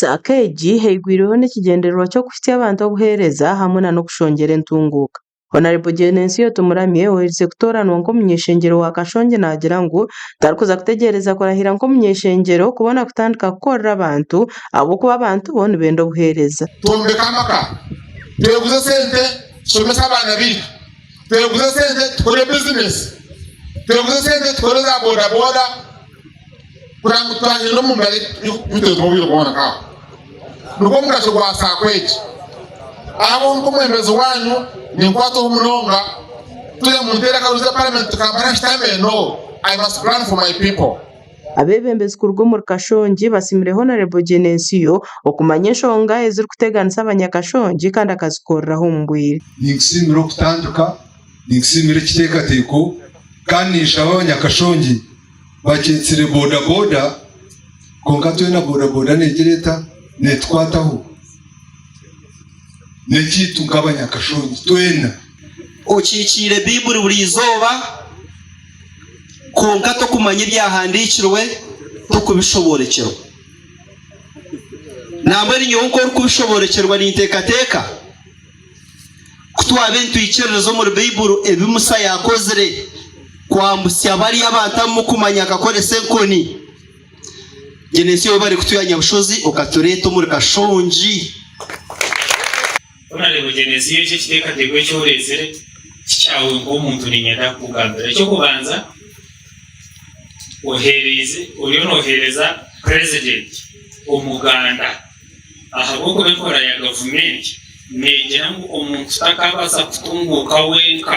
Saaka egi eigwireho n'ekigyendererwa ky'okuhitsya abantu obuheereza hamwe nana okushongyera entunguuka. Hon Genesio Tumuramye oherize kutooranwa nk'omuny'eshengyero wa Kashongi naagira ngu tarikuza kutegyereza kurahira nk'omuny'eshengyero kubona kutandika kukorera abantu ahabw'okuba abantu bo nibenda obuheereza. Twombeke amaka, tweguze sente, tushomese abaana baitu. Tweguze sente tukore bizinesi, tweguze sente tukore za bodaboda kureba ngu twanyina omu mbari tutezibwe obwire bwona nk'aho. Nigwo mugasho gwa saako egi. Abo nk'omwebembezi waanyu ninkwatwaho munonga turi omu nteerakaruzi ya paramenti tukampana ngu shitama eno, I must plan for my people. Abeebembezi kuruga omuri Kashongi basiimire Honarebo Genesio okumanya enshonga ezirikuteganisa Abanyakashongi kandi akazikoreraho omu bwire. Ninkusiimira okutandika, ninkusiimira ekiteekateeko kandi ninshaba Abanyakashongi bakyetsire bodaboda kwonka twena bodaboda negira eta? Neetukwataho. N'ekyaitu nk'Abanyakashongi twena. Okiikiire Baibuli buri izooba? kwonka tokumanya ebyahandiikirwe tokubishoboorokyerwa. Nambwenu nyowe nku orikubishoboorokyerwa ninteekateeka ku twabaire nitwikiririza omuri Baiburu ebi Musa yaakozire kwambutsya bariya abantu abu murikumanya akakoresa enkoni, gye n'ensi ou barikutwiha Nyabushozi okatureeta omuri Kashongi. Ku naareeba ogyemesiibwe eki ekiteekateeko eki oreetsire ti kyawe nk'omuntu, niinyenda kukugambira. Eky'okubanza, oheereize oriyo nooheereza purezidenti omuganda ahabw'okuba enkora ya gavumenti neegira ngu omuntu takaabaasa kutunguuka wenka.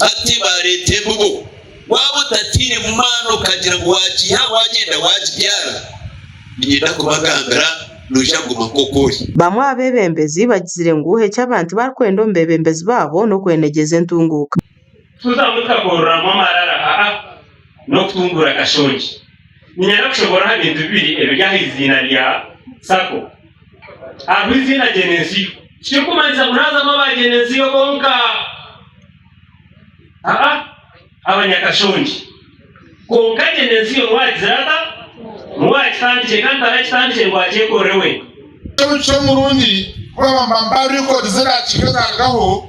Hati baareeta embibo. Waaba otatairemu maani okagira ngu waagiiha waagyenda waagibyara, niinyenda kubagambira noija kuguma nk'oku ori. Bamwe aha beebembezi bagizire ngu eki abantu barikwenda omu beebembezi baabo n'okwenegyeza entunguuka. Tikuza mutakoreramu amarara, haa, n'okutunguura akashongye. Niinyenda kushomora aha bintu bibiri ebiri aha eiziina rya Sako. Hariho eiziina Genesiyo. Tikirikumanyisa ngu naazamu aba Genesiyo bonka. Aa, abanyakashongye. Kwonka Genesiyo niwe aragizire ata? Niwe arakitandikire kandi tarakitandikire ngu akyekorere wenka. Omuco murungi kuba bamba mba record zirakiika zarugaho.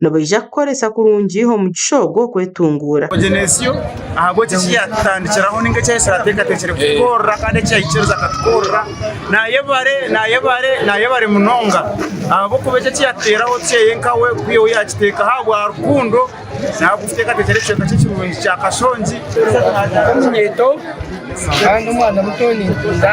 nibaija kukoresa kurungi omugisha ogwo okwetunguura. Ogenesio ahabw'oki eki yaatutandikiraho nainga eki yahitsire ateekateekire kutukorera kandi eki yaikiriza akatukorera. Naayebare, naayebare, naayebare munonga ahabw'okuba eki eki yatuteeraho tukyeye nkawe ku iwe yaakiteekaho ahabwa rukundo naawe kuteekateekera ekicweka kye kirungi kya Kashongi. Nyowe ndi omunyeeto kandi omwana muto ninkunda.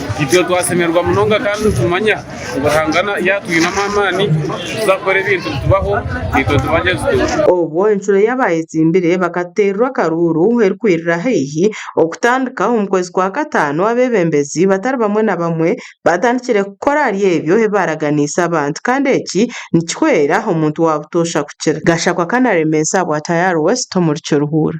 Itwe twasemererwa munonga kandi nitumanya ngu Ruhanga yaatwinamu amaani kuza kukora ebintu bitubaho itwe tubagye tuti. Obwo enshuro y'abaayetsimbire bakateererwa akaruuru erikwirira haihi okutandika omu kwezi kwa kataano, abeebembezi batari bamwe na bamwe baatandikire kukora ahari ebyo ebi baaraganiise abantu kandi eki nikihwera omuntu waabutoosha kukira. Gashakwa Kanaremesa bwa Tayari West omuri Kiruhura.